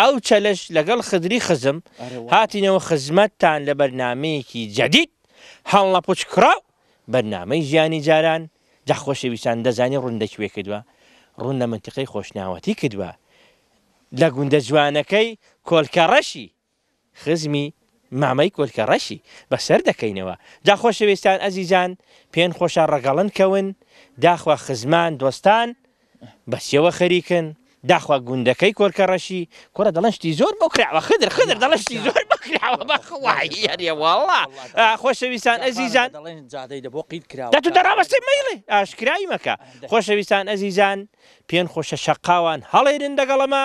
ئەو چەلەش لەگەڵ خدری خزم هاتینەوە خزمەتتان لە بەرنامەیەکی جەدید هەڵنەپوچ کراو بەرنامەی ژیانی جاران جا خۆشەویستان دەزانی ڕوون لە کوێ کردوە ڕوون لە منتیقەی خۆشناوەتی کردوە لە گوندە جوانەکەی کۆلکەڕەشی خزمی مامەی کۆلکە ڕەشی بە سەر دەکەینەوە. جا خۆشەوێستان ئەزیزان پێن خۆشە ڕەگەڵن کەون داخوا خزمان دۆستان بە سێوە خەریکن داخوا گوندەکەی کۆلکە ڕەشی کوڕە دەڵێن شتی زۆر بۆ کراوە خدر خدر دەڵێن شتی زۆر بۆ کراوە بە خوایی ئەرێ واڵڵا خۆشەویستان ئەزیزان دەڵێن جادەی دە بۆ قیت کراوە دەتو دەڕابەستێ مەیڵێ ئاشکرای مەکە خۆشەویستان ئەزیزان پێن خۆشە شەقاوان هەڵێرن دەگەڵەمە.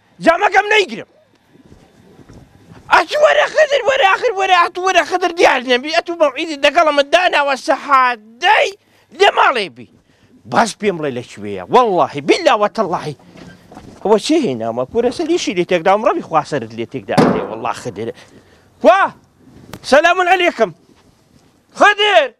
جامەکەم نەیگرم ئەچ وەرە خدر وەرە ئاخر وەرە ئەت وەرە خدر دیار نەبی ئەت و مەوعیدی دەگەڵمە داناوە سەحات دەی لە ماڵێ بی باش پێم بڵێ لە کوێیە وەڵڵاهی بیلا وەتەڵڵاهی هو چی هێنامە کورە سەریشی لێ تێکدا ڕەوی خواسەرت لێ تێکدا وڵا خدرە وا سەلام علیکم خدر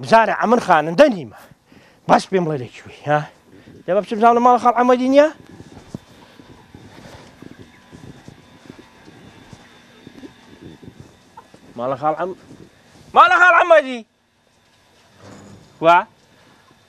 بزانە ئەمن خانندە نیمە بەس پێم بڵێ لە کوێی ها لە بە بچم زانە ماڵە خاڵ ئەمەدی نییە ماڵە خاڵ ئەم ماڵە خاڵ ئەمەدی وا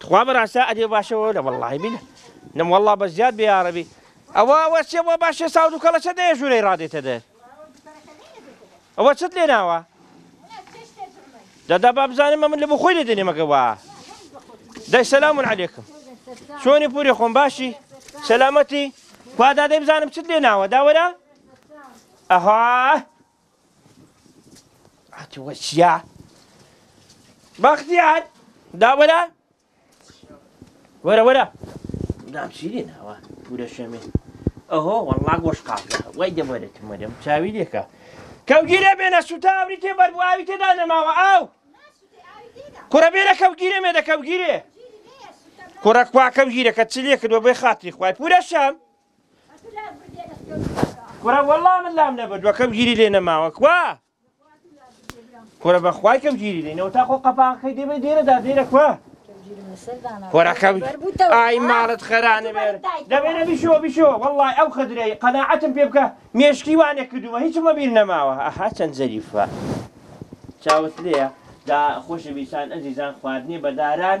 تخوا بەڕاستە ئەدێ باشەوە لە وەڵی بینە نم وەڵا بە زیاد بێارەبی ئەوە ئەوە سێ بۆ باشێ ساود و کەڵەچە دێ ژوورەی ڕادێتە دێ ئەوە چت لێ ناوە دەدا با بزانم من لە بخۆی لێ دێنێمەکەوە دەی سەسلام من عەلێکم چۆنی پوری خۆم باشی سەلامەتی کوادادەی بزانم چت لێ ناوە داوەرە ئەها هاتووە چیا بەختیار داوەرە وەرە وەرە دام شیری ناوە پورە شەمێ ئەهۆ وەڵا گۆش قاڵە وای دەوەرەتم وەرەم چاوی لێکە کەوگیرە بێنە سوتا ئەوری تێ بەربواوی تێدا نەماوە ئاو کوڕە بێنە کەوگیرە مێدە کەوگیرێ کوڕە کوا کەوگیرەکە چ لێ کردوە بێ خاتری خوای پورە شەم کورە وەڵا من لام نەبردوە کەم گیری لێ نەماوە کوا کورە بەخوای کەم گیری لێنەوە تا خۆ قەپاقەکەی دێمە دێرەدا دێرە کوا کۆراکەم ئای ماڵت خەرانە بێر دەبێنە بیشۆ بیشۆ وەڵی ئەو خدرەی قەنەعەتم پێ بکە مێشکی وانێ کردووە هیچمە بیر نەماوە ئەها چەند زەریفە چاوت لێە دا خۆشە بیسان ئەزیزان خواردنی بەداران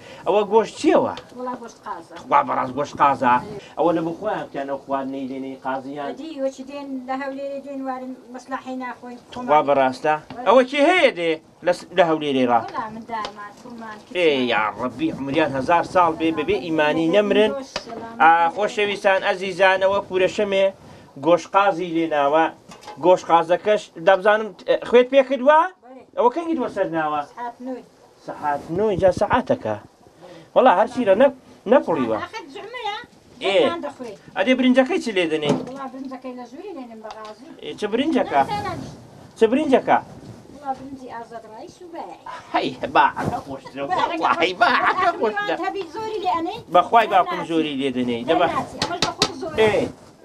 ئەوە گۆشت چیەوە خوا بەڕاست گۆشت قازە ئەوە لە بخۆیان بکەن ئەو خواردنەی لێنەی قازیان خوا بەڕاستە ئەوە چی هەیە دێ لە هەولێری ڕا یاڕبی عمریان هزار ساڵ بێ بەبێ ئیمانی نەمرن خۆشەویستان ئەزیزانەوە پورەشەمێ گۆشقازی لێناوە گۆشقازەکەش دەبزانم خوێت پێکردوە ئەوە کەنگی دووە سەر ناوە سەعات نۆ جا سەعاتەکە وەڵا هەرچی لە نەک نەکوڵیوە ئەدێ برنجەکەی چ لێ دەنێ چ برنجەکە چ برنجەکە بەخوای باکم زۆری لێ دەنێ دەبە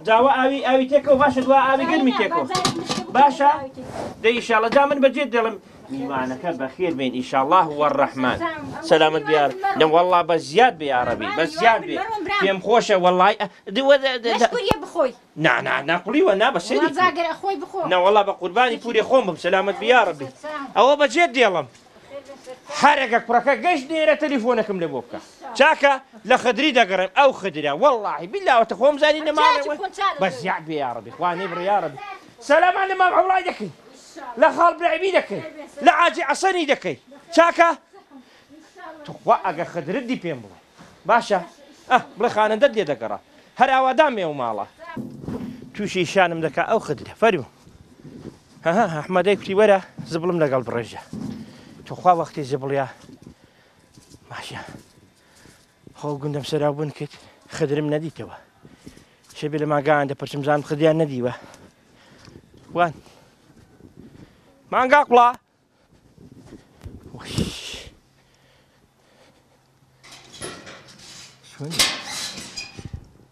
جاوە ئاوی ئاوی تێکەوە باشە دوا ئاوی گەرمی تێکەوە باشە دەیشاڵە جا من بەجێت دەڵم میوانەکە بەخێر بێن ئیشاڵا وەڕەحمان سەلامت بیار لە وەڵا بە زیاد بێ یاڕەبی بە زیاد بێ پێم خۆشە وەڵای بخۆی نانا ناقلیوە نا بەسێ خۆی بخۆ نەوەڵا بە قوربانی پوری خۆم بم سەلامت بیاڕەبی ئەوە بەجێت دێڵم هەرەگە کوڕەکە گەشت نێرە تەلیفۆنەکەم لە بۆ بکە چاکە لە خدری دەگەڕێم ئەو خدرە وەڵی بیلاوەتە خۆم زانی نەما بە زیاد بێ یاڕەبی خوانی بڕیاڕەبی سەلامان لە مام ئەوڵای دەکەین لە خاڵ برعمی دەکەی لە عاجی عەسەنی دەکەی چاکە توخوا ئەگە خدرت دی پێم بڵێ باشە ئە بڵێ خانەندەت لێ دەگەڕا هەر ئاوادان مێ و ماڵە تووشی شانم دەکا ئەو خدرە فەرمو هەها ئەحمەدەی کوتی وەرە زبڵم لەگەڵ بڕێژە توخوا وەختی زبڵە ماشە خۆ گوندم سەراو بوون کرد خدرم نەدیتەوە شەبێ لە ماگان دە پرچمزان خدیان نەدیوە وان مانگا قوڵا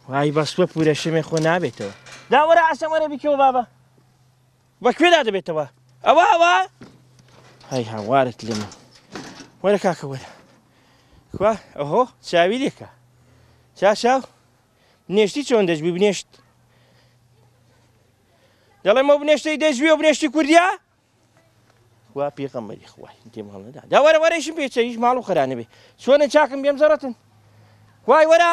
وای بەستوە پورە شمێ خۆ نابێتەوە داوەرە ئاسەمەرە بیکەوە بابە بە کوێدا دەبێتەوە ئەوە ئەوە هەی هاوارت لێمە وەرە کاکە وەرە کوا ئەهۆ چاوی لێکە چا چاو نێشتی چۆن دەژبی بنێشت دەڵێمە بنێشتەی دەژوی و بنێشتی کوردیا وا پێغەمەری خوای دێ ماڵەدا داوەرە وەرەشم پێچەیش ماڵ و خەرانەبێ چۆنە چاکم بێم زەڕەتن وای وەرە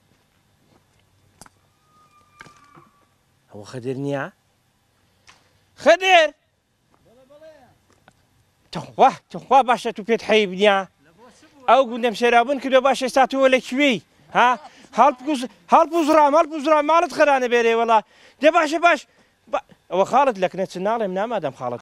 ئەوە خەدر نییە خەدر تخوا تخوا باشە تو پێت حەیب نییە ئەو گوندەم شێرابن کردو باش ئێستا تۆ لە کوێی ها هەڵپوزرام هەڵپوزرام ماڵت خەرانە بێرێ وڵا دێ باشە باش ئەوە خاڵت لەکنە چ ناڵێم نامادەم خاڵت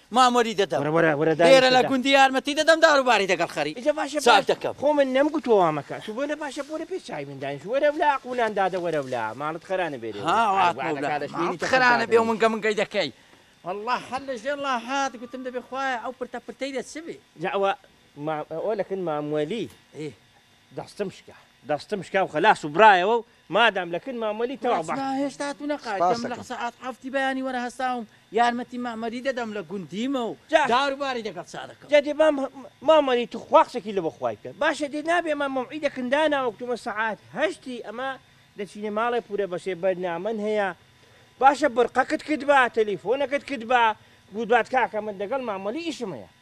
ماموەری دەدەم وەرە وەرە وەرە دانیشە لێرە لە دە. گوندی یارمەتی دەدەم دار و باری دەگەڵ خەری ئیجە باشە چاک باش دەکەم. خۆ من نەم گوتوە وا مەکە تو بۆنە باشە بۆنە پێش چای من دانیش وەرە ولا ئەق و نان دادە وەرە ولا ماڵت خەرا نەبێ لێ ها وەرە هاتمە ولا ئەگوانەکا لە شوێنی ماڵت تە خەرا نەبێ و منگە منگەی دەکەی واللە هەر لە ژێر ڵا هات گوتم دەبێ خوایە ئەو پرتە پرتەی لە چ بێ. جا ئەوە مام ئەوە لەکن مام وەلی ئێ. دەستم شکا دەستم شکا و خەلاس و برایەوە و مادام لە کن مامەلی تەواو بە. بەخوا هێشتا تو نەقای سوپاس دەم لە دەکەم. سەعات حەفتی بەیانی وەرە هەستاوم یارمەتی مامەلی دەدەم لە گوندیمە و جا. دار و باری دەگەڵ چا دەکەم. جا دێ مام مامەلی تو خوا قسەکی لە بە خوای بکە باشە دێ نابێ ئەمە مەوعیدە کن داناوە کتومە سەعات هەشتی ئەمە دەچینە ماڵێ پورە بەسێ بەرنامەن هەیە باشە بڕقەکت کردبا تەلیفۆنەکت کردبا گوتبات کاکە من دەگەڵ مامەلی ئیشم هەیە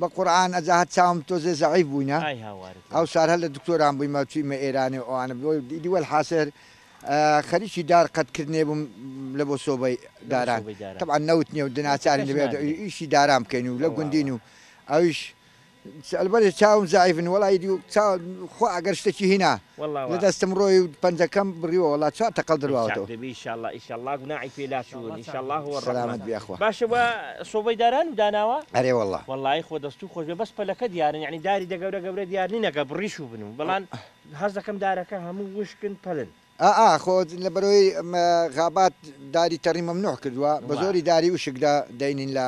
بە قورعان ئەجا هەر چاوم تۆزێ زەعیف بووینە ئەوسار هەر لە دکتۆران بوویمە چوویمە ئێرانێ ئەوانە بۆ ئیدی وەلحاسر خەریکی دار قەت کردنێ بووم لە بۆ سۆبەی داران تەبعا نەوت نیە و دناچاری دەبێت ئیشی داران بکەین و لە گوندین و ئەویش ئەلبەرێ چاوم زەعیفن وەڵا ئیدی خوا ئەگەر شتەکی هینا واللە دەستم ڕۆی و پەنجەکەم بڕیوە واللە چوار تەقەڵ درواوەتەوە. ئیشاڵ دەبی ئیشاڵڵە ئیشاڵڵە گوناحی پێ لاچوون ئیشاڵڵە هو سەلامەت بی اخوا. باشە وا سۆبەی داران و داناوە؟ ئەرێ واللە. وەڵایی خۆ دەستو خۆشبێ بەس پەلەکە دیارن یەعنی داری دە گەورە گەورە دیار نین ئەگەر بڕیش و بن و بەڵام حەز دەکەم دارەکە هەموو وشکن پەلن. ئا ئا خۆ لەبەرەوەی غابات داری تەڕی مەمنوع کردوە بەزۆری داری وشک دە دەینین لە.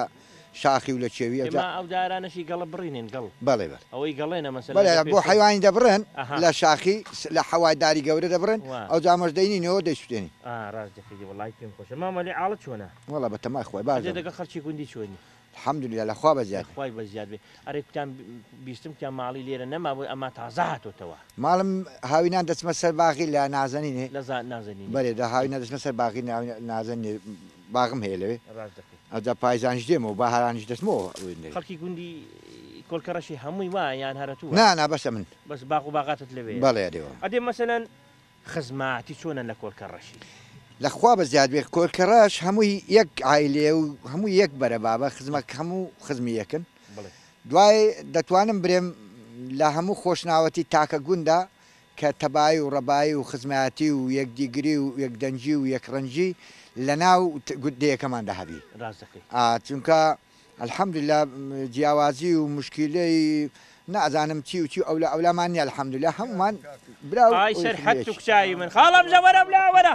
شاخی و لە کێوی ئەجا. ئێمە ئەو دارانەشی گەڵە بڕینین گەڵ بەڵێ بەڵێ ئەوەی گەڵێنە مەسەلەن بەڵێ لە بۆ پێشەوە. حەیوانی دەبڕێن ئەها. لە شاخی س لە حەوای داری گەورە دەبڕێن وا. ئەوجا ئەمەش دەینینەوە دەیسوتێنین. ئا ڕاست دەکەی دی وەڵاهی پێم خۆشە مامە لێ عاڵت چۆنە؟ وەڵا بە تەمای خوای باش ئەجێ دەبم. دەگەڵ خەڵکی گوندی چۆنی؟ الحمدللە لە خوا لە بەزیاد. خوای بەزیاد بێ ئەرێ کوتان بیستم کوتان ماڵی لێرە نەمابوو ئەما تازە هاتۆتەوە. ماڵم هاوینان دەچمە سەر باغی لە نازەنینێ. لە زا نازەنینێ بەلێ دە ئەی. هاوینان دەچمە سەر باغی ناوی نازەنینێ. باغم هەیە لەوێ. ڕاست دەکەی. ئەوجا پایزانیش دێمەوە باهارانیش دەچمەوە ئەوێ لەوێ. خەڵکی گوندی کۆلکەڕەشی هەمووی وایە یان هەرە تو وای؟ نا نا بەس ئەمن. بەس باغ و باغاتت لەوێیە. بەڵێ ئەرێوا. ئەدێ مەسەلەن خزماتی چۆنە لە کۆلکەڕەشی؟ لە خوا بە زیاد بێ کۆلکەڕەش هەمووی یەک عایلەیە و هەمووی یەک بەرە بابە خزمە هەموو خزمی یەکن. بڵێ. دوای دەتوانم برێم لە هەموو خۆشناوەتی تاکە گوندا کە تەبایی و ڕەبایی و خزمایەتی و یەکدیگری و یەکدەنگی و یەکڕەنگی لە ناو دێیەکەماندا هەبی. ڕاست دەکەی. ئا چونکە الحمدللە جیاوازی و مشکیلەی نازانم چی و چی و ئەولا ئەولامان نیە الحمدللە هەموومان برا و ئای سەرحەد توکچاوی من خاڵە بژە وەرە ولا وەرە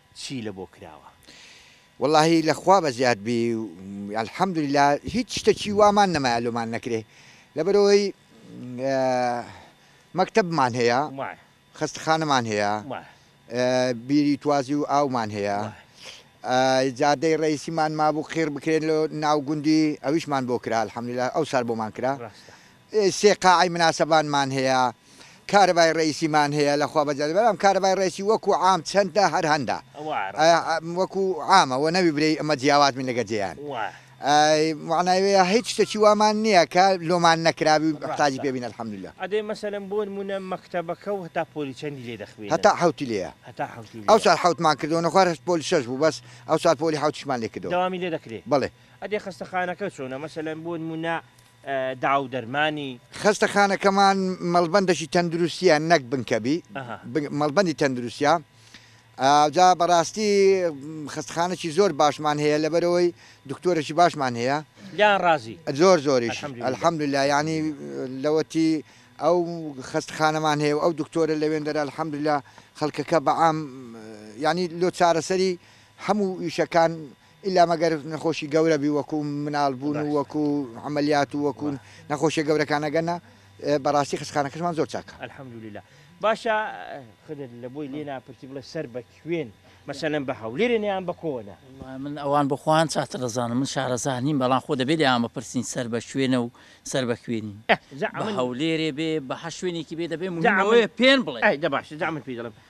چی لە بۆ کراوە. وەڵاهی لە خوا بەزیاد بی الحمدللە هیچ شتەکی وامان نەمایە لۆمان نەکرێ لەبەرەوەی مەکتەبمان هەیە خەستەخانەمان هەیە بیری توازی و ئاومان هەیە جادەی ڕئیسیمان مابوو قیڕ بکرێن لۆ ناو گوندی ئەویشمان بۆ کرا الحمدللە ئەو سار بۆمان کرا سێ قاعەی مناسەبانمان هەیە کارەبای ڕەئیسیمان هەیە لە خوا بەزیادە بەلام کارەبای ڕەئیسی وەکو عام چەندە هەر هەندە وەکو عامە وە نەوی برێی ئەمە جیاواز من لەگە جێیان معنای وەیە هیچ شتەکی وامان نییە کە لۆمان نەکراوی تاجی پێ بین الحمدللە ئەدێ مەسەلەن بۆ نمونە مەکتەبەکە و هەتا پۆلی چەندی لێ دەخوێنن هەتا حەوتی لێیە هەتا حەوتی ئەو سال حەوتمان کردو نەخوار هەست پۆلی شەش بوو بەس ئەو سال پۆلی حەوتیشمان لێ کردو دەوامی لێ دەکرێ بەڵێ ئەدێ خەستەخانەکە چۆنە مەسەلەن بۆ نمونە داو دەرمانی. خەستەخانەکەمان مەڵبەندەکی تەندروستیە نەک بنکەبی مەڵبەندی تەندروستە جا بەڕاستی خەستخانەکی زۆر باشمان هەیە لەبەرەوەی دکتۆرەی باشمان هەیە یان ڕازی زۆر زۆریش الحەمدللا ینی لەوەتی ئەو خەستخانەمان هەیە ئەو دکتۆرە لەوێندەر الحەمدللا خەڵکەکە بەعام ینی لۆ چارەسەری هەموو ئیشەکان ئیلا مەگەر نەخۆشی گەورە بی وەکو مناڵ بوون و وەکو عەمەلیات و وەکو نەخۆشیە گەورەکان ئەگەرنا بەڕاستی خەستخانەکەشمان زۆر چاکە. الحمدللە باشە خدر لە بۆی لێ ناپرسی بڵێ سەر بە کوێن مەسەلەن بە هەولێرن یان بە کۆنە؟ وەڵا من ئەوان بۆ خۆیان چاتر ئەزانن من شارەزا نیم بەڵام خۆ دەبێ لێیان بپرسین سەر بە کوێنە و سەر بە کوێنین بە هەولێرێ بێ بە هەر شوێنێکی بێ دەبێ مهمە ئەوەیە پێن بڵێ. ئەی دە باشە جا من پێی دەڵێم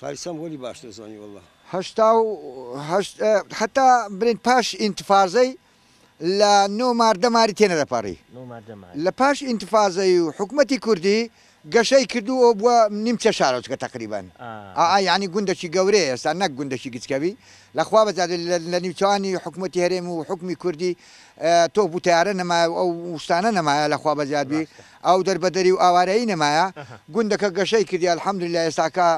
فارسم وەلی باش نەزانی واللە. هەشتا و هەشت حەتا بلێن پاش ئینتفازەی لە نۆ ماردە ماری تێ نەدەپەڕی لە پاش ئینتفازەی و حکومەتی کوردی گەشەی کردو ئەو بوە نیمچە شارۆچکە تەقریبەن ئا یانی گوندەکی گەورەیە ئێستا نەک گوندەکی گچکە بی لە خوا بەزانێ لە نیوچانی حکومەتی هەرێم و حکومی کوردی تۆپ و تەیارە نەمایە و ئەو شتانە نەمایە لە خوا بەزیاد بی ئاو دەربەدەری و ئاوارەیی نەمایە گوندەکە گەشەی کردی الحمدللە ئێستاکە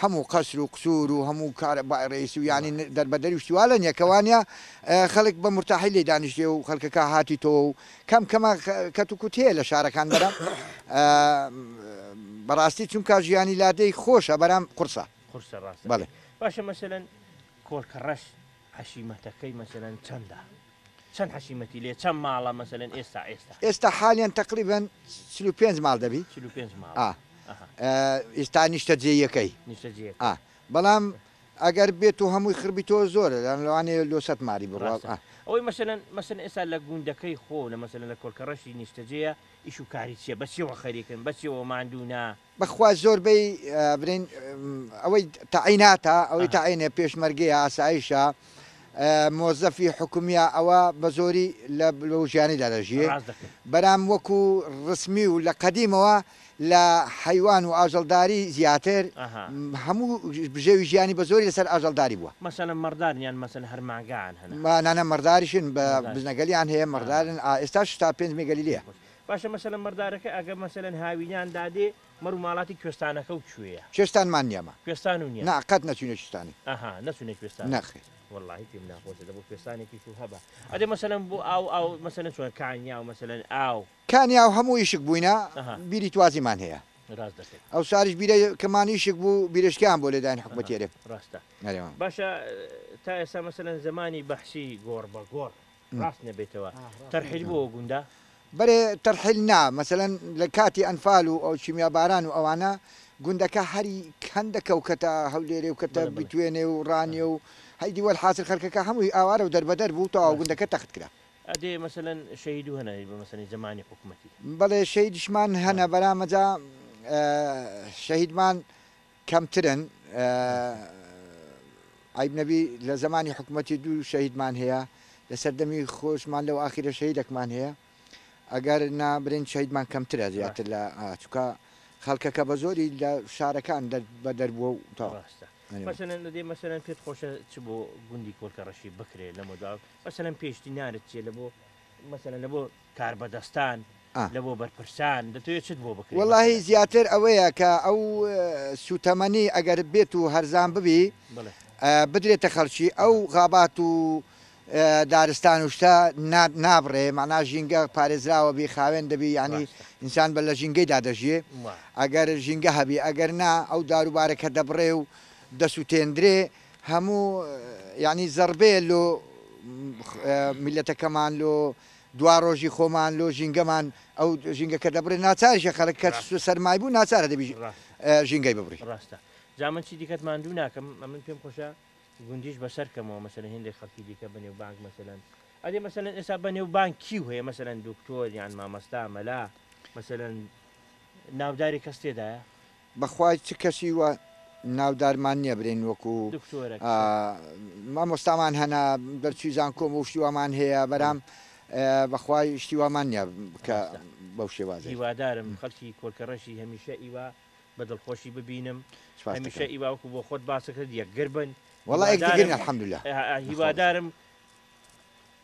هەموو قەسر و قسور و هەموو کارە بای ڕێیس و یانی دەربەدەری و شتی وا لەنیە کە وانیە خەلک بە مورتاحی لی دانیشتێ و خەلکەکە هاتیتۆوە و کەم کەمە کەت و کوت هەیە لە شارەکان بەرام بەڕاستی چونکا ژیانی لادێی خۆشە بەرام قورسە قورسە ڕاستە بەڵێ باشە مەسەلەن کۆڵکەڕەش حەشیمەتەکەی مەسەلەن چەندە چەند حەشیمەتی لێ چەند ماڵە مەسەلەن ئێستا ئێستا ئێستا حالیان تەقریبەن چل و پێنج ماڵ دەبی چل و پێنج ماڵ ئا ئەها ئە، ئێستا نیشتەجێیەکەی نیشتەجێ ئا بەڵام ئەگەر بێت و هەمووی خربیتەوە زۆرە لە لەوانەیە لۆ سەد ماری بڕوات ڕاستە ئا. ئەوەی مەسەلەن مەسەلەن ئێستا لە گوندەکەی خۆو لە مەسەلەن لە کۆلکەڕەشی نیشتەجێیە ئیش و کاری چیە بە چیەوە خەریکن بە چیەوە ماندوو نا بەخوا زۆر بەی برین ئەوەی تەعیناتە ئەوەی تەعینێ پێشمەرگەیە ئاسایشە مۆزەفی حکومیە ئەوە بەزۆری لە بلوژیانی دادەژیێ بەرام وەکو ڕسمی و لە قەدیمەوە لە حیوان و ئاژەڵداری زیاتر هەموو بژێوی ژیانی بە زۆری لەسەر ئاژەڵداری بووە مەسەلەن مەڕدارنیان مەسەن هەر مانگان هەن مانانە مەڕداریشن بە بزنەگەلیان هەیە مەڕدارن ئێستا شتا پێنج مێگەلی لە باشە مەسەلەن مەڕدارەکە ئەگەر مەسەلەن هاوینان دادێ مەڕ و ماڵاتی کوێستانەکەو کوێیە؟ کوێستان مان نیە مە. کوێستان و نیە. نا قەت نەچوینە کوێستانی. ئەها نەچونە کوێستانی. نەخێر. وەڵاهی پێم ناخۆشە دەبوو کوێستانێکیشو هەبا. ئەدێ مەسەلەن بۆ ئاو ئاو مەسەلەن چۆن کانیاو مەسەلەن ئاو. کانیاو هەموو ئیشک بووینە بیری توازی مان هەیە. راست دەکەی. ئەو ساریش بیرە کە مان ئیشک بوو بیرە شکیان بۆ لێدانی حکومەتی ئەرێ. ئەها راستە. باشە تا ئێستا مەسەلەن زەمانی بەحسی گۆڕ بە گۆڕ. ڕاست نەبێتەوە تەرحیل بۆ گوندا؟ بەرێ تەرحیل نا مەسەلەن لە کاتی ئەنفال و ئەو کیمیا باران و ئەوانە گوندەکە هەری هەندە کەو کەتە هەولێرێ و کەتە بتوێنێ و ڕانیە و هەی دی وەل حاسر خەرکەکە هەمووی ئاوارە و دەربەدەر بوو تەواو گوندەکە تەخت کرا. ئەدێ مەسەلەن شەهید و هەنە بە مەسەنی زەمانی حکومەتی. بەڵێ شەهیدشمان هەنە بەرامەجا شەهیدمان کەمترن عەیب نەبی لە زەمانی حکومەتی دوو شەهیدمان هەیە لە سەردەمی خۆشمان لەو ئاخیرە شەهیدەکمان هەیە ئەگەر نا برین شەهیدمان کەمترە زیاتر لە چکە خەڵکەکە بە زۆری لە شارەکان بە دەربووە و تا مەسەرەن پێت خۆشە چ بۆ گوندی کۆلکە ڕەشی بکرێت لەمەدا مەسەرەن پێشتی نارت چێ لە بۆ مەسەلەن لە بۆ کاربەدەستان لە بۆ بەرپرسان دەتەوێت چت بۆ بکرێت؟ وەڵاهی زیاتر ئەوەیە کە ئەو سووتەمەنی ئەگەر بێت و هەرزان ببی بدرێتە خەڵکی ئەو غابات و دارستان و شتە نابڕێ مەنا ژینگە پارێزراوە بی خاوێن دەبی ینی ئینسان بە لە ژینگەیدا دەژێ ئەگەر ژینگە هەبی ئەگەر نا ئەو داروبارە کە دەبڕێ و دەسووتێندرێ هەموو یانی زەڕبەیە لۆ میلەتەکەمان لۆ دواڕۆژی خۆمان لۆ ژینگەمان ئەو ژینگەکە دەبڕێ ناچارشە خەرک کە سەرمای بوو ناچارە دەبی ژینگەی ببڕی ڕاستە جا من چی دیکەت ماندوو ناکەم ئەمن پێم خۆشە گوندیش بەسەر کەمەوە مەسەن هێندێک خەڵکی دیکە بنێ و بانک مەسەن ئەدێ مەسەن ئێستا بە نێو بانکی و هەیە مەسەن دکتۆر یان مامەستا مەلا مەسەن ناوداری کەس تێدایە بەخوا چ کەسی وە ناودارمان نیە برێن وەکو مامۆستامان هەنا دەرچوی زانکۆم و شتی وامان هەیە بەرام بەخوا شتی وامان نیە کە بەو شێوازە هیوادارم خەڵکی کۆلکەڕەشی هەمیشە ئیوا بە دڵخۆشی ببینم هەمیشە ئیوا وەکو بۆ خۆت باسەکرد یەکگر بن وەڵا یەکگر بن الحمدللە هیوادارم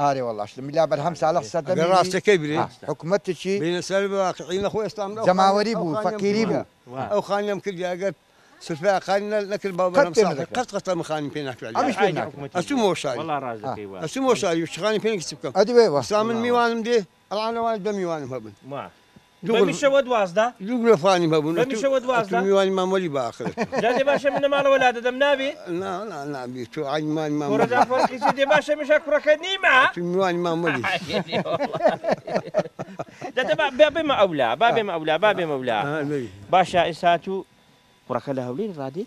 ئارێ وەڵا شتە ملا بەرهەم ساڵح سەردەمی وی حکومەتێکی جەماوەری بوو فەقیری بوو ئەدی وەی وەستا من میوانم دێ ئەڵا لەوانە دە میوانم هەبن. ما. دوو غرفە. بەمیشە وە دوازدە. دوو غرفانیم هەبن. بەمیشە وە دوازدە. ئەتوو میوانی مام وەلی بە ئاخرەت. جا دێ باشە من نەماڵەوە لا دەدەم نابی؟ نا نا نابی تۆ عەین میوانی مام وەلی. کورە جا فەرقی چیە دێ باشە میشا کوڕەکەت نیمە؟ ئەتوو میوانی مام وەلی. دە دە با با بێمە ئەو لا با بێمە ئەو لا با بێمە ئەو لا. باشە ئێستا ئەتوو کوڕەکە لە هەولێری ڕادێی؟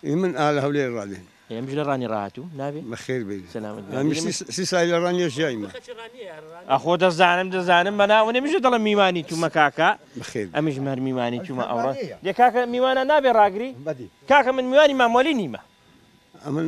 ئی من ئا لە هەولێر ڕادێن. ئێ ئەمیش لە ڕانی ڕاهاتوو نابێ؟ بەخێر بێی سەلامەت بێ ئەمیش سی سی سالی لە ڕانیە ژیایمە. ئەخۆ دەزانم دەزانم بە ناوە نەمیشە دەڵێم میوانی توومە کاکە بەخێر بێی ئەمیشم هەر میوانی توومە ئەوڕۆ دێ کاکە میوانان نابێ ڕاگری کاکە من میوانی مام وەلی نیمە. ئەمن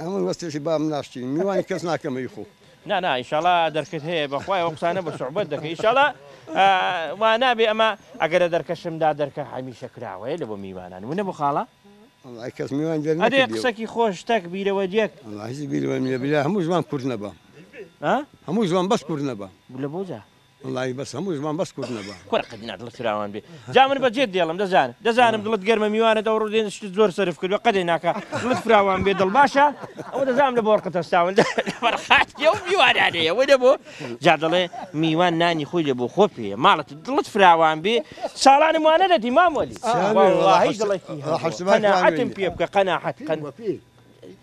ئەمن وەستێشی بابم ناشتین میوانی کەس ناکەمە ی خۆ. نا نا ئیشاڵا دەرکت هەیە بەخوای ئەو قسانە بە سوعبەت دەکەی ئیشاڵا وا نابێ ئەمە ئەگەر لە دەرکەشمدا دەرکە هەمیشە کراوەیە لە بۆ میوانان ونە بۆ خاڵە وەڵای کەس میوان دەر ئەدێ نەکردیەوە قسەکی خۆش تەک بیرەوە دێک وەڵا هیچ بیرەوەم نییە بریا هەموو زمان کورت نەبا ها هەموو زمان بەس کورت نەبا لە بۆ جا وەڵاهی بەس هەموو زمان بەس کورد نەبا. کورە قەت نا دڵت فراوان بێ جا من بە جێت دێڵم دەزانم دەزانم دڵت گەرمە میوانت ئەوڕۆ دێن شتت زۆر سەرف کردوە قەدێ ناکا دڵت فراوان بێ دڵ باشە ئەوە دەزانم لە بۆرقت هەستاون لەبەر خاتری ئەو میوانانێ ئەوە نەبۆ جا دەڵێ میوان نانی خۆی لە بۆ خۆ پێیە ماڵت دڵت فراوان بێ ساڵانم وا نەدەدی مام وەلی سامی وەڵاهی وەڵاهی دڵێکی هەبووە حەسبە قەناعەتم پێ بکە قەناعەت قەن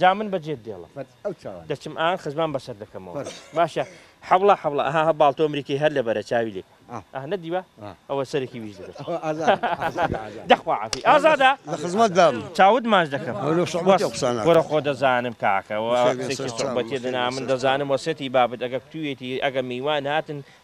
جا من بە جێت دێڵم دەچم ئان خزمان بەسەر دەکەمەوە باشە حەوڵە حەوڵە ئەها هە باڵتۆ ئەمریکی هەر لە بەرە چاوی لێ ئە نەدیوە ئەوە سەرێکی ویژ دەبێت دەخوا عفی ئازادا لە خزمەت دام چاوت ماش دەکەم گۆرە خۆ دەزانم کاکەوە سوبەتێ دەنا من دەزانم وەسێتی بابت ئەگە کوێتی ئەگە میوان هاتن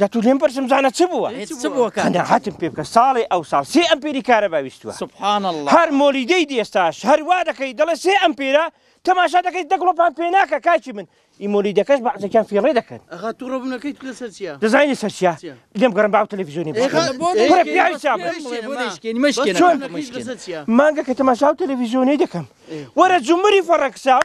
دەتو لێم پرسم زانە چ بووە قەناعەتم پێ بکە ساڵێ ئەوساڵ سێ ئەمپێری کارەبا ویستووە سبحان اللە هەر مۆلیدەی دی ئێستاش هەر وا دەکەی دەڵێ سێ ئەمپێرە تەماشا دەکەی دە گڵۆپان پێ ناکە کاکی من ئی مۆلیدەکەش بەعزێکیان فێڕێ دەکەن ئەخا تو ڕەبوونەکەیت لەسەر چییە دەزانی لەسەر چییە چییە؟ لێم گەڕم باو تەلەڤیزیۆنی بۆ ئێخا بۆ بکەن. بڕە پیاوی چاپ. بڵێ بڵێ بۆ دەیشکێنی مەشکێنە چۆن؟ کاکە مەشکێنە. لەسەر چییە مانگەکە تەماشاو تەلەڤیزیۆنی دەکەم وەرە جمری فەڕەکسام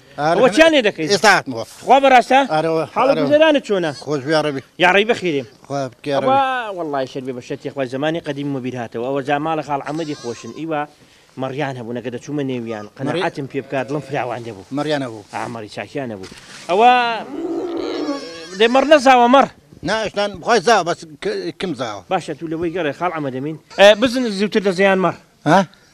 ئەوە چیان لێ دەکەیت ئێستا هاتمەوە خوا بەراستە ئارەوە حاڵە گوزەرانت چۆنە خۆش بێڕەبی یاڕی بەخیرێ وڵی شەر بێ بە شەتی خۆی زمانی قدیم مبیر هاتەوە ئەوە جا ماڵە خاڵ ئەمەدی خۆشن ئیوە مەڕیان هەبوو نەکە دەچوومە نێویان قەنەعاتم پێ بکات دڵم فراوان دەبوو مەڕیانە بوو ئامەڕی چاکیانە بوو ئەوە دێ مەڕ نەزاوە مەڕ ناشتان بخوای زا بەس کم زاوە باشە تو لەوەی گەڕێ خاڵ ئەمە دەمین بزن زیوتر دەزیان مەڕ ها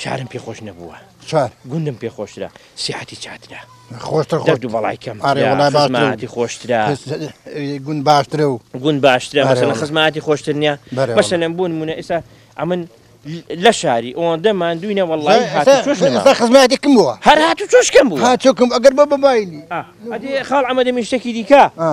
شارم پێ خۆش نەبووە چار گوندم پێ خۆشترە سیحەتی چاترە خۆشتر خۆ دەرد و بەڵای کەم ئارێ وەڵای باشترە. خزمەتی خۆشترە گون باشترە و گوند باشترە ئارێ مەسەلەن وەڵا. خزمەتی خۆشتر نییە بەرێ وەڵا. مەسەلەن بوون مونە ئێستا ئەمن لە شاری ئەوەندە ماندووینە وەڵی هات و چۆش نەما ئێستا خزمەتێکم بووە هەر هات و چۆشکەم بوو ها چۆکم ئەگەر بە بەباینی ئەدی خاڵ ئەمە دەمێ شتێکی دیکە ئا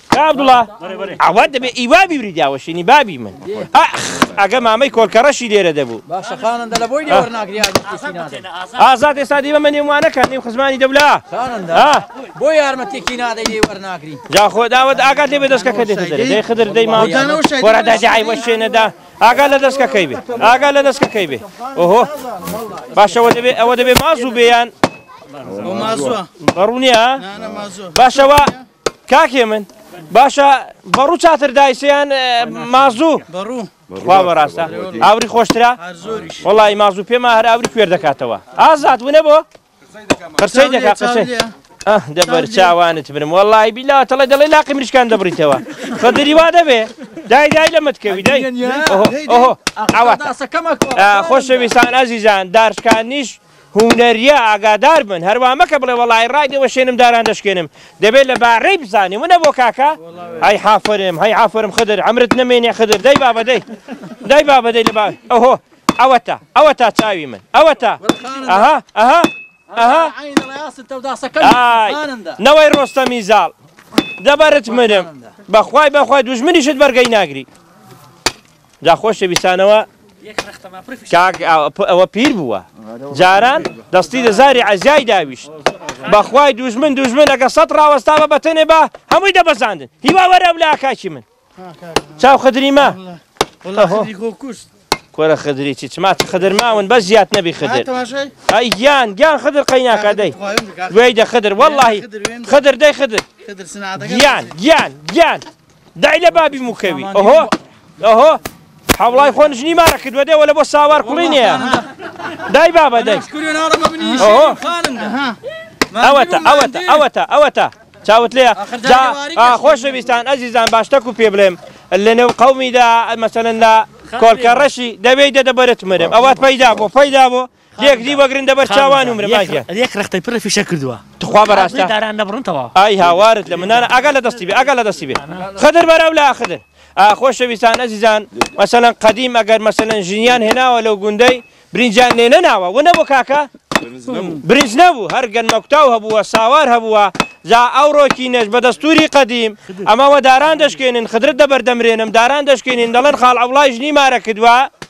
کاک عەبدوڵا عەواد دەبێ ئی وا بیبری داوەشێنی بابی من ئاخ ئەگە مامەی کۆلکەڕەشی لێرە دەبوو باشە خانەندە لە بۆی لێوەر ناگری ئازاد کەسی نادەی ئازاد ئێستا دێمە مەنێ وانە کە نێو خزمانی دەولا خانەندە ها بۆ یارمەتێکی نادەی لێوەر ناگری جا خۆ داوەت ئاگات لێ بێ دەستکەکە دێتە دەرێ دەی خدر دەی ماڵ وەرە دادی عای وەشێنەدا ئاگا لە دەستکەکەی بێ ئاگا لە دەستکەکەی بێ ئۆهۆ باشەوە دەبێ ئەوە دەبێ مازوو بێیان بەڕوونیە باشەوە کاک هێمن باشە بەڕوو چاتر دایسە یان مازوو بەڕوو خوا بەڕاستە ئاوری خۆشترا وڵی مازوو پێما هەر ئاوری کوێر دەکاتەوە ئازاد ونە بۆ قرسەی دەکا قسەی دەبەر چاوانت برم وەڵی بیلا تەڵێ دەڵێ لاقی مریشکان دەبریتەوە بە دریوا دەبێ دای دای لە متکەوی دای ئەوەکەمە خۆشەویستان ئازیزان دارشکانیش هونەریە ئاگادار بن هەر وا مەکە بڵێ وەڵای ڕای دێ وەشێنم داران دەشکێنم دەبێ لە بارەی بزانێ ونە بۆ کاکە هەی حافرم هەی حافرم خدر عەمرت نەمێنێ خدر دەی بابە دەی دای بابە دەی لە با ئەوهۆ ئەوە تا ئەوە تا چاوی من ئەوە تا ئەها ئەها ئەها نەوەی ڕۆستەمی زاڵ دەبەرت منم بەخوای بەخوای دوژمنیشت بەرگەی ناگری جا خۆشەویستانەوە کاک ئەوە پیر بووە جاران دەستی لە زاری عزیای داویشت بەخوای دوژمن دوژمن ئەگە سەد ڕاوەستاوە بەتەنێ بە هەمووی دەبەزاندن هیوا وەرە لە کاکی من چاو خدریمە کۆرە خدری چی چما خدر ماون بە زیاد نەبی خدر ئەی گیان گیان خدر قەیناکەدەی وێدە خدر واللهی خدر دەی خدر گیان گیان گیان دای لە بابی موکەوی ئەهۆ ئەهۆ حەوڵای خۆن ژنی مارە کردوە دێ وەلە بۆ ساوار کوڵی نیە دای بابە دای ئەوەتە ئەوەتە ئەوەتە ئەوەتە چاوت لێ خۆشەویستان ئەزیزان باشتەک و پێ بڵێم لەنێو قومیدا مەسەن لە کۆلکە ڕەشی دەبێت دەدەبەرت مرم ئەوات پەیدا بۆ پەیدا بۆ لێک دی وەگرن دەبەر چاوان و مرم ئاگیان. یەک رەختەی پڕ لە فیشەک کردووە. توخوا بەراستە؟ ئاخ داران نەبڕن تەوا. ئای هاوارت لە منانە ئاگات لە دەستی بێ ئاگات لە دەستی بێ خدر بەرە لا خدر. ئا خۆشەویستان ئەزیزان مەسەلەن قەدیم ئەگەر مەسەلەن ژنیان هێناوە لەو گوندەی برینجیان لێ نەناوە وە نەبوو کاکە؟ برنج نەبوو هەر گەنمەکوتاو هەبووە ساوار هەبووە جا ئەوڕۆکی نەش بە دەستوری قەدیم ئەمەوە داران دەشکێنن خدرت دەبەر دەمرێنم داران دەشکێنین دەڵێن خاڵ عەوڵای ژنی مارە کردوە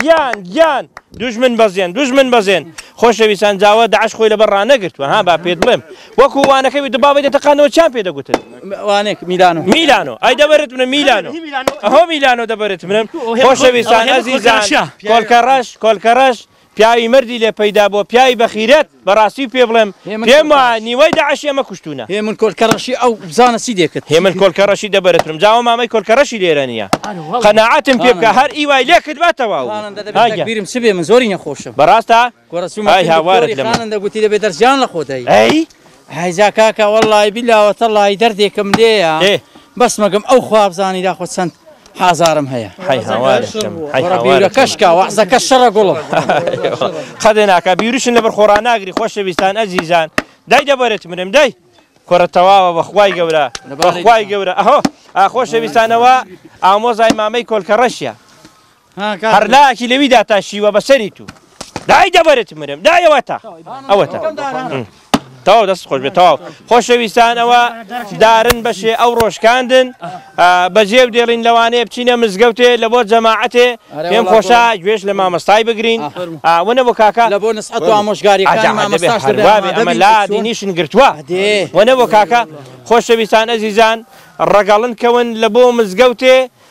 گیان گیان دوژمن بەزێن دوژمن بەزێن خۆشەویستان جاوە داعش خۆی لەبەر ڕانەگرتووە ها با پێت بڵێم وەکو وانەکەی وتە بابی دەتەقانەوە چیان پێ دەگوتن ئەوانێک میلانۆ میلانۆ ئەی دەبرت منە میلانۆ ئەهۆ میلانۆ دەبرت منم خۆشەویستان ئازیزان کۆلکەڕەش کۆلکەڕەش پیاوی مردی لێ پەیدا بۆ پیاوی بەخیرەت بەڕاستی پێ بڵێم پێم وایە نیوەی داعشی ئەمە کوشتوونە. هێمن کۆلکە ڕەشی ئەو بزانە چی دێکت. هێمن کۆلکە ڕەشی دە بەرترم جا ئەو مامەی کۆلکە ڕەشی لێرە نییە قەناعەتم پێ بکە هەر ئی وای لێ کردبا تەواو تەکبیرم چ بێ من زۆری نەخۆشم. بەڕاستە؟ کورە چوومە ئای هاوارت لە من. خانم دە گوتی دەبێ دەرس جان لە خۆت هەی. ئەی؟ هەی جا کاکە وەڵڵای بیللا وەتەڵڵای دەردێکم لێیە بەس مەگم ئەو خوا بزانی داخۆ چەند ئازارم هەیە حەی هاوارێ کەم حەی وەڕە هاوارێ بیرەکەش کەم. کا وەعزەکە شەڕە گوڵم قەدێ ناکا بیروشن لەبەر خۆڕا ناگری خۆشەویستان ئەزیزان دای دەبەرێت مرێم دای کورە تەواوە بەخوای گەورە لەبارەی بەخوای دەکەم. گەورە ئەهۆ ئا خۆشەویستانەوە ئامۆزای مامەی کۆلکە ڕەشیە ها کاک هەر لاکی لەویدا تا شیوە بەسەری تو دای دەبەرێت مرێم دای ئەوەتا ئەوەتا تەواو دەست خۆش بێت تەواو خۆشەویستان ئەوە دارن بەشێ ئەو ڕۆژکاندن بەجێ و دێڵین لەوانەیە بچینە مزگەوتێ لە بۆ جەماعەتێ پێم خۆشە گوێش لە مامەستای بگرین وەنە بۆ کاکە لە بۆ نسعەت و ئامۆژگاری ئەمە لا دینیشن گرتووە وەنە بۆ کاکە خۆشەویستان ئەزیزان ڕەگەڵن کەون لە بۆ مزگەوتێ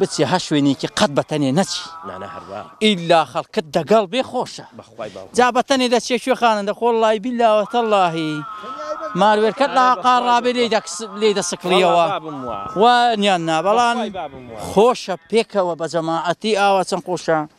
بچیە هەر شوێنێکی قەت بەتەنێ نەچی ئیلا خەڵکت دەگەڵ بێ خۆشە جا بەتەنێ دەچیە کوێ خانەندە خۆ اللەی بیلا وەتەڵڵاهی ماروێرکەت لە قاڕ ڕابێ لێی دەسکڵیەوە وا نیان نا بەڵام خۆشە پێکەوە بە جەماعەتی ئاوا چەند خۆشە.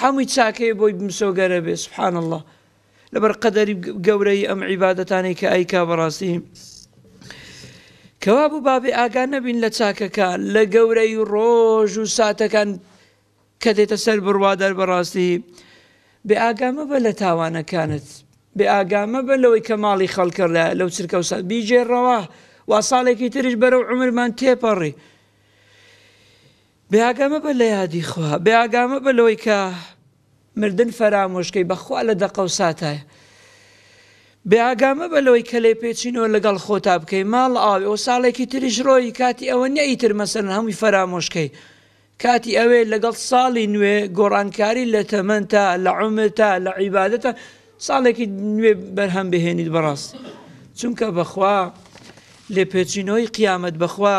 حەموی چاکەیە بۆی بمسۆگەرە بێ سبحان اللە لەبەر قەدەری گەورەی ئەم عیبادەتانەی کە ئایکا بەڕاستی کەوا بوو بابێ ئاگا نەبین لە چاکەکان لە گەورەی ڕۆژ و ساتەکان کە دێتە سەر بڕوادار بەڕاستی بێ ئاگامە بە لە تاوانەکانت بێ ئاگامە بە لەوەی کە ماڵی خەڵکە لە لەو چرکە و سات بیجێڕەوە وا ساڵێکی تریش بەرەو عمرمان تێپەڕی بێئاگا مەبە لە یادی خوا، بێئاگا مەبە لەوەی کە مردن فەرامۆش کەی، بە خوا لە دەقە و ساتایە. بێئاگا مەبە لەوەی کە لێپێچینەوە لەگەڵ خۆتا بکەی، ماڵ ئاوێ و ساڵێکی تریش ڕۆیی، کاتی ئەوە نیە ئیتر مەسەلەن هەمووی فەرامۆش کەی، کاتی ئەوەیە لەگەڵ ساڵی نوێ گۆڕانکاری لە تەمەنتا، لە عومرتا، لە عیبادەتا ساڵێکی نوێ بەرهەم بهێنیت بەڕاستی چونکە بە خوا لێپێچینەوەی قیامەت بە خوا،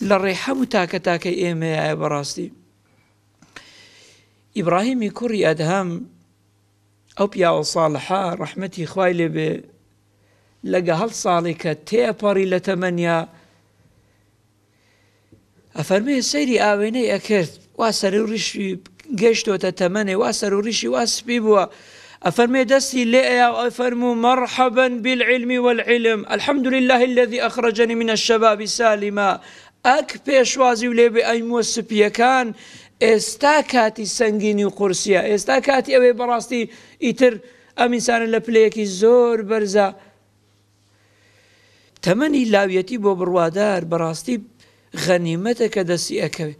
لە ڕێحەب و تاکە تاکەی ئێمەیایە بەڕاستی ئیبراهیمی کوڕی ئەدهەم ئەو پیاوە ساڵحە ڕەحمەتی خوای لێبێ لەگە هەڵ ساڵی کە تێپەڕی لە تەمەنیا ئەفەرمێ سەیری ئاوێنەی ئەکرد وا سەرو ڕیشی گەیشتۆتە تەمەنێ وا سەرو ڕیشی وا سپی بووە ئەفەرمێ دەستی لێ ئەیا و ئەفەرموو مەڕحەبا بالعلم والعلم الحمد لله الذي اخرجني من الشباب سالما ئەک پێشوازی و لێ بێ ئەی مووە سپییەکان ئێستا کاتی سەنگینی و قورسیە ئێستا کاتی ئەوێ بەڕاستی ئیتر ئەم ئینسانە لە پلەیەکی زۆر بەرزە تەمەنی لاویەتی بۆ بڕوادار بەڕاستی غەنیمەتە کە دەستی ئەکەوێ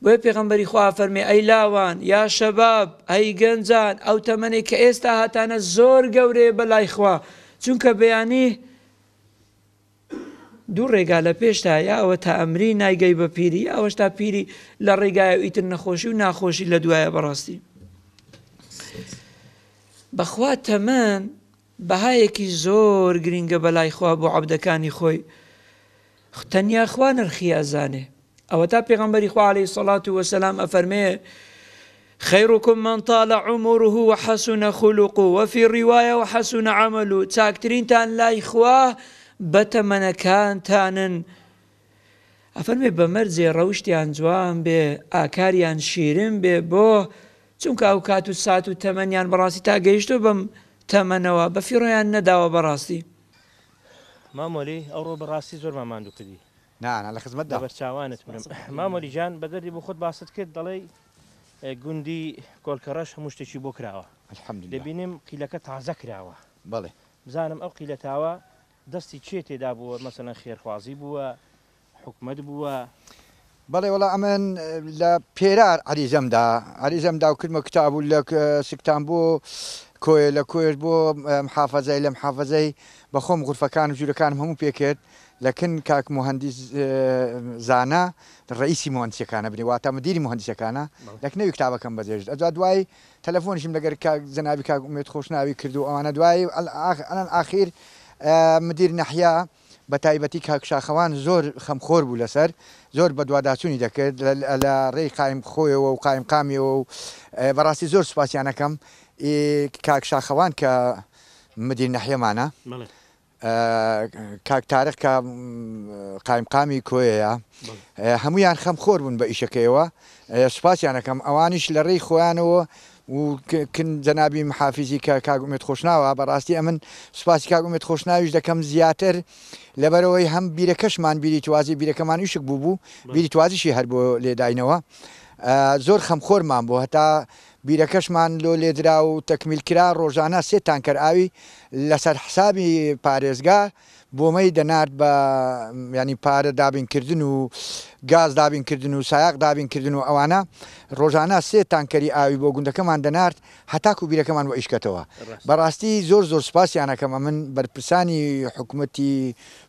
بۆیە پێغەمبەری خوا فەرمی ئەی لاوان یا شەباب ئەی گەنجان ئەو تەمەنێک کە ئێستا هاتانە زۆر گەورەیە بە لای خوا چونکە بەیانی دوو ڕێگا لە پێشتا یاوە تا ئەمری نایگەی بە پیری یاوەش تا پیری لە ڕێگای و ئیتر نەخۆشی و ناخۆشی لە دوایە بەڕاستی بەخوا تەمەن بەهایەکی زۆر گرینگە بەلای خوا بۆ عەبدەکانی خۆی خو تەنیا خوا نرخی ئەزانێ ئەوەتا پێغەمبەری خوا علیە سەڵات و وەسەلام ئەفەرمێ خیرکم من طال عمره وحسن خلق وفي رواية وحسن عمل چاکترینتان لای خوا بەتەمەنەکانتانن ئەفەرمێ بە مەرجێ ڕەوشتیان جوان بێ، ئاکاریان شیرن بێ، بۆ؟ چونکە ئەو کات و سات و تەمەنیان بەڕاستی تا گەیشتووە بەم تەمەنەوە، بە فیڕۆیان نەداوە بەڕاستی. مام وەلی، ئەوڕۆ بە ڕاستی زۆرمان ماندوو کردی. نا، نا، لە خزمەتدام. لەبەر چاوانت مرم. مام وەلی گیان، بە دەردی بۆ خۆت باست کرد، دەڵێی گوندی کۆلکەڕەش هەموو شتێکی بۆ کراوە. الحمدللە. دەبینم قیلەکە تازە کراوە. بەڵێ. بزانم ئەو قیلەتاوە دەستی کێ تێدا بووە مەسەلەن خێرخوازی بووە حکومەت بووە؟ بەڵێ وەڵا ئەمن لە پێرار عەریزەم دا عەریزەم دا و کردمە کتاب و لە سکتان بۆ کۆیە لە کۆیەش بۆ محافەزەی لە محافەزەی بە خۆم غورفەکان و ژوورەکانم هەموو پێ کرد لە کن کاک موهەندیس زانا ڕەیسی موهەندیسەکانە بنێ واتە مدیری موهەندیسەکانە لە کنەوی کتابەکەم بەجێژ ئەجا دوای تەلەفۆنیشم لەگەر کاک جەنابی کاک ئومێد خۆشناوی کرد و ئەوانە دوایی ئەلان ئاخیر مدیر نەحیا بە تایبەتی کاک شاخەوان زۆر خەمخۆر بوو لەسەر زۆر بەدواداچونی دەکرد لە ڕێی قایم خۆیەوە و قایم قامیەوە و بەڕاستی زۆر سوپاسیان ئەکەم ئی کاک شاخەوان کە مدیر نەحیەمانە. کاک تارق کە قایمقامی کۆیەیە هەموویان خەمخۆر بوون بە ئیشەکەیەوە سوپاسیان ئەکەم ئەوانیش لە ڕێی خۆیانەوە و کن جەنابی محافیزی کە کاک ئومێد خۆشناوە بەڕاستی ئەمن سوپاسی کاک ئومێد خۆشناویش دەکەم زیاتر لەبەرەوەی هەم بیرەکەشمان بیری توازی بیرەکەمان ویشک بوو بوو بیری توازیشی هەر بۆ لێداینەوە زۆر خەمخۆرمان بۆ هەتا بیرەکەشمان لۆ لێدرا و تەکمیل کرا، ڕۆژانە سێ تانکەر ئاوی لەسەر حسابی پارێزگا بۆمەی دەنارد بە یانی پارە دابین کردن و گاز دابین کردن و سایاق دابین کردن و ئەوانە ڕۆژانە سێ تانکەری ئاوی بۆ گوندەکەمان دەنارد هەتاکو بیرەکەمان وەیشکەتەوە بەڕاستی زۆر زۆر سوپاسیان ئەکەم ئەمن بەرپرسانی حکومەتی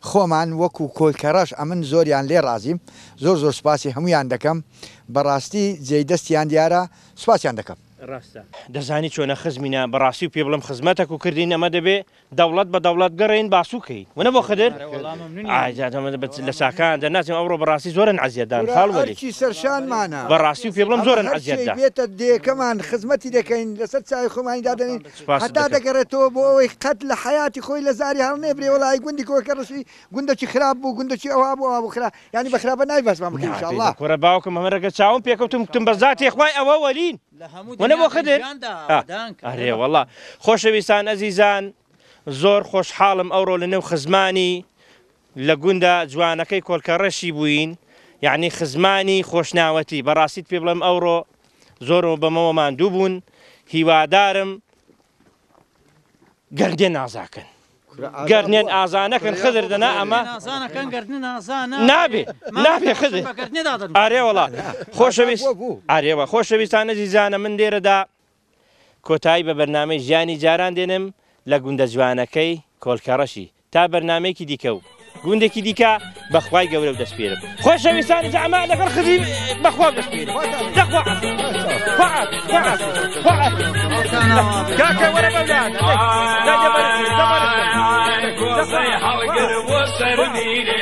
خۆمان وەکو کۆلکەڕەش ئەمن زۆریان لێ ڕازیم زۆر زۆر سوپاسی هەمویان دەکەم. بەڕاستی جێی دەستیان دیارە سوپاسیان دەکەم. ڕاستە. دەزانی چۆنە خزمینە بەڕاستی و پێ بڵێم خزمەتەک و کردین ئەمە دەبێ دەوڵەت بە دەوڵەت گەڕێین باسوو کەین ونە بۆ خدر ئای جا دەمە دەبێت لە ساکان دە ناچم ئەوڕۆ بەڕاستی زۆرن عەزیەت دان کورە خاڵ وەلی ئەرکی سەرشانمانە بەڕاستی و پێ بڵێم ئەمە زۆرن عەزیەت هەرچی دا بێتە دێکەمان خزمەتی دەکەین لەسەر چاوی خۆمانی دادەنین سوپاست هەتا دەکەم. دەگەڕێتەوە بۆ ئەوەی قەت لە حەیاتی خۆی لە زاری هەڵنێبرێ وەڵایی گوندی کۆکەڕشی گوندەکی خراپ بوو گوندەکی ئەوا بوو ئەوا بوو خراپ یانی بە خراپە نای بەسمان بکەی انشاءاللە. نابێ بەکورە باوکم ئەمن رەگە چاوم پێکەوتم گوتم بە زاتێ خوای ئەوە وەلین ونە بۆ خدر ئا ئەرێ وەڵا خۆشەویستان ئەزیزان زۆر خۆشحاڵم ئەوڕۆ لە نێو خزمانی لە گوندە جوانەکەی کۆلکەڕەشی بووین یانی خزمانی خۆشناوەتی بەڕاستیت پێ بڵێم ئەوڕۆ زۆر بەمەوە ماندوو بوون هیوادارم گردێن ئازاکەن گردێن ئازانەکەن خدر دەنا ئەمە نابێ نابێ خدر ئارێ وڵا خۆشەویست ئارێوە خۆشەویستانە زیزانە من لێرەدا کۆتایی بە بەرنامەی ژیانی جاران دێنم لە گوندە جوانەکەی کۆلکەڕەشی تا بەرنامەیەکی دیکە و گوندێکی دیکە بەخوای گەورە و دەسپێرم خۆشەویستانی جامە لەگەڵ خزی بەخوا دەسپێرم کاکە وەرە بەولاد هەڵگر بۆ سەر میرێ